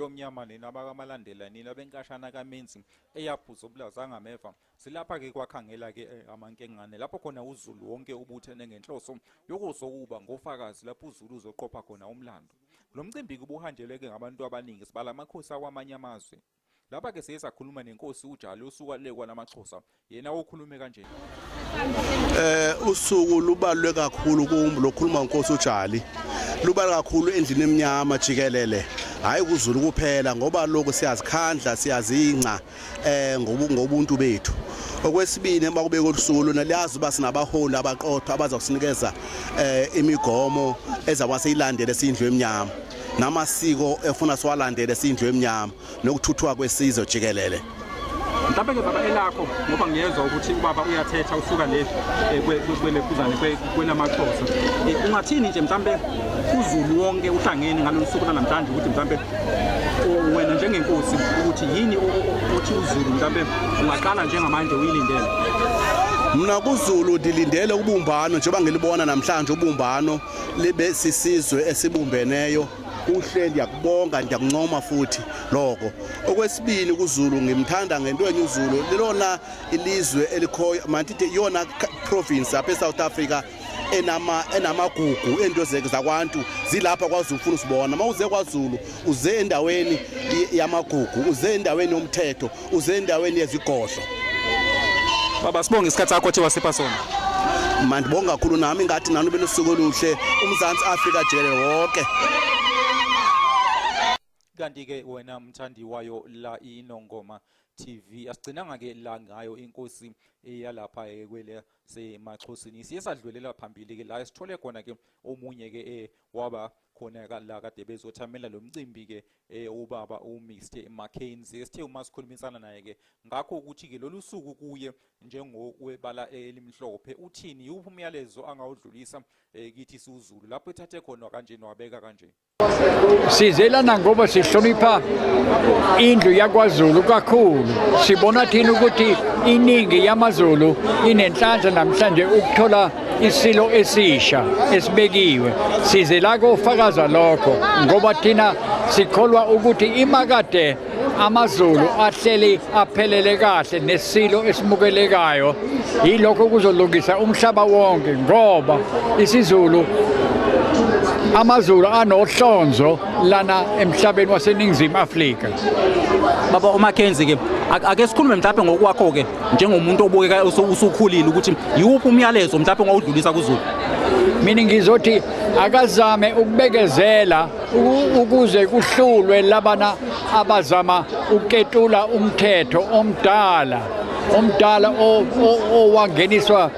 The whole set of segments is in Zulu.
lomnyama nina abakamalandela nina benkashana kamenzi eyaphuza ubulaza ngameva silapha ke kwakhangela ke eh, amankengane lapho khona uzulu wonke ubuthene ngenhloso yokuzokuba ngofakazi lapho uzulu uzoqopha khona umlando lo mcimbi kubuhanjeleke ngabantu abaningi sibala amakhosi akwamanye amazwe Lapha ke siye sakhuluma nenkosi uJali osuka le kwalamaXhosa yena okhulume kanje. Eh usuku lubalwe kakhulu kumbu lokhuluma nkosi uJali. Lubala kakhulu endlini eminyama jikelele. Hayi kuzulu kuphela ngoba lokho siyazikhandla siyazinca eh ngobuntu bethu. Okwesibini uma kubeka usuku lona liyazi uba sinabaholi abaqotho abazokusinikeza eh imigomo ezakwase ilandele sindlu eminyama. namasiko efuna siwalandele siyindlu emnyama nokuthuthwa kwesizwe jikelele mhlawumbe ke baba elakho ngoba ngiyezwa ukuthi ubaba uyathetha usuka le eh, kwelephuzane kwenamaxhosa eh, ungathini nje mhlawumbe uzulu wonke uhlangene ngalolu suku lanamhlanje ukuthi mhlawumbe wena njengenkosi ukuthi yini othi uzulu mhlawumbe ungaqala njengamanje uyilindele mna kuzulu ndilindele ubumbano njengoba ngilibona namhlanje ubumbano libe sisizwe esibumbeneyo kuhle ndiyakubonga ndiyakuncoma futhi lokho okwesibili kuzulu ngimthanda ngento enye uzulu lilona ilizwe elikhoyo mandithi iyona province apha esouth africa enama enamagugu ento zeke zakwantu zilapha kwaZulu ufuna usibona mawuze kwaZulu uze endaweni yamagugu uze endaweni yomthetho uze endaweni yezigodlo baba sibonge isikhathi sakho othe wasipha sona mandibonga kakhulu nami ngathi nani belusuku oluhle umzansi afrika jele wonke kanti ke wena mthandi wayo la inongoma TV asigcinanga ke la ngayo inkosi eyalapha eh, kwele semaxhosini siye sadlulela phambili ke la sithole khona ke omunye ke eh, waba khona la kade bezothamela lo mcimbi-ke eh, ubaba uMr Mackenzie sithe uma sikhulumisana naye-ke ngakho ukuthi-ke lolu suku kuye njengokwebala elimhlophe uthini yiwuphi umyalezo angawudlulisa eh, kithi siwuzulu lapho ethathe khona kanje nwabeka kanje sizelana ngoba sihlonipha indlu yakwaZulu kakhulu sibona thina ukuthi iningi yamaZulu inenhlanhla namhlanje ukuthola isilo esisha esibekiwe size la kofakaza lokho ngoba thina sikholwa ukuthi imakade amazulu ahleli aphelele kahle nesilo esimukelekayo yilokho kuzolungisa umhlaba wonke ngoba isizulu amazulu anohlonzo lana emhlabeni waseningizimu Afrika baba uMackenzie ke ake sikhulume mhlawumbe ngokwakho ke njengomuntu obukeka usukhulile ukuthi yiwuphi umyalezo mhlawumbe ongawudlulisa kuzulu mina ngizothi akazame ukubekezela ukuze kuhlulwe labana abazama ukuketula umthetho omdala omdala owangeniswa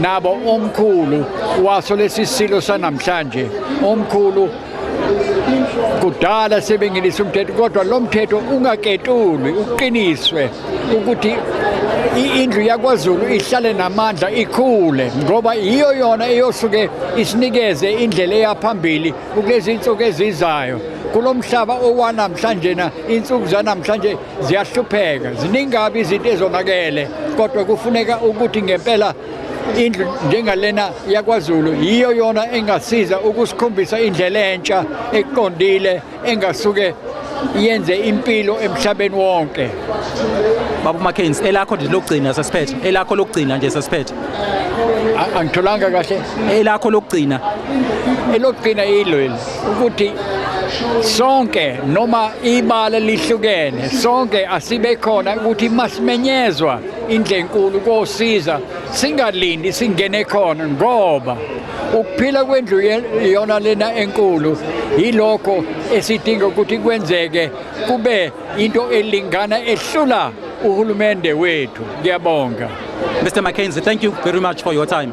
nabo omkhulu waso lesi silo sanamhlanje omkhulu kudala sebengenisa umthetho kodwa lo mthetho ungaketulwi uqiniswe ukuthi indlu yakwazulu ihlale namandla ikhule ngoba yiyo yona eyosuke isinikeze indlela eyaphambili ukulezi insuku ezizayo kulo mhlaba owanamhlanje na insuku zanamhlanje ziyahlupheka ziningabi izinto ezonakele kodwa kufuneka ukuthi ngempela indlu njengalena yakwaZulu yiyo yona engasiza ukusikhombisa indlela entsha eqondile engasuke yenze impilo emhlabeni wonke Babu Mackens elakho nje lokugcina sesiphethe elakho lokugcina nje sesiphethe angitholanga kahle elakho lokugcina elokugcina ilweli ukuthi sonke noma ibala lihlukene sonke asibe khona ukuthi masimenyezwa indle enkulu kosiza singalindi singene khona ngoba ukuphila kwendlu iyona lena enkulu yilokho esidinga ukuthi kwenzeke kube into elingana ehlula uhulumende wethu ngiyabonga Mr. Mackenzie, thank you very much for your time.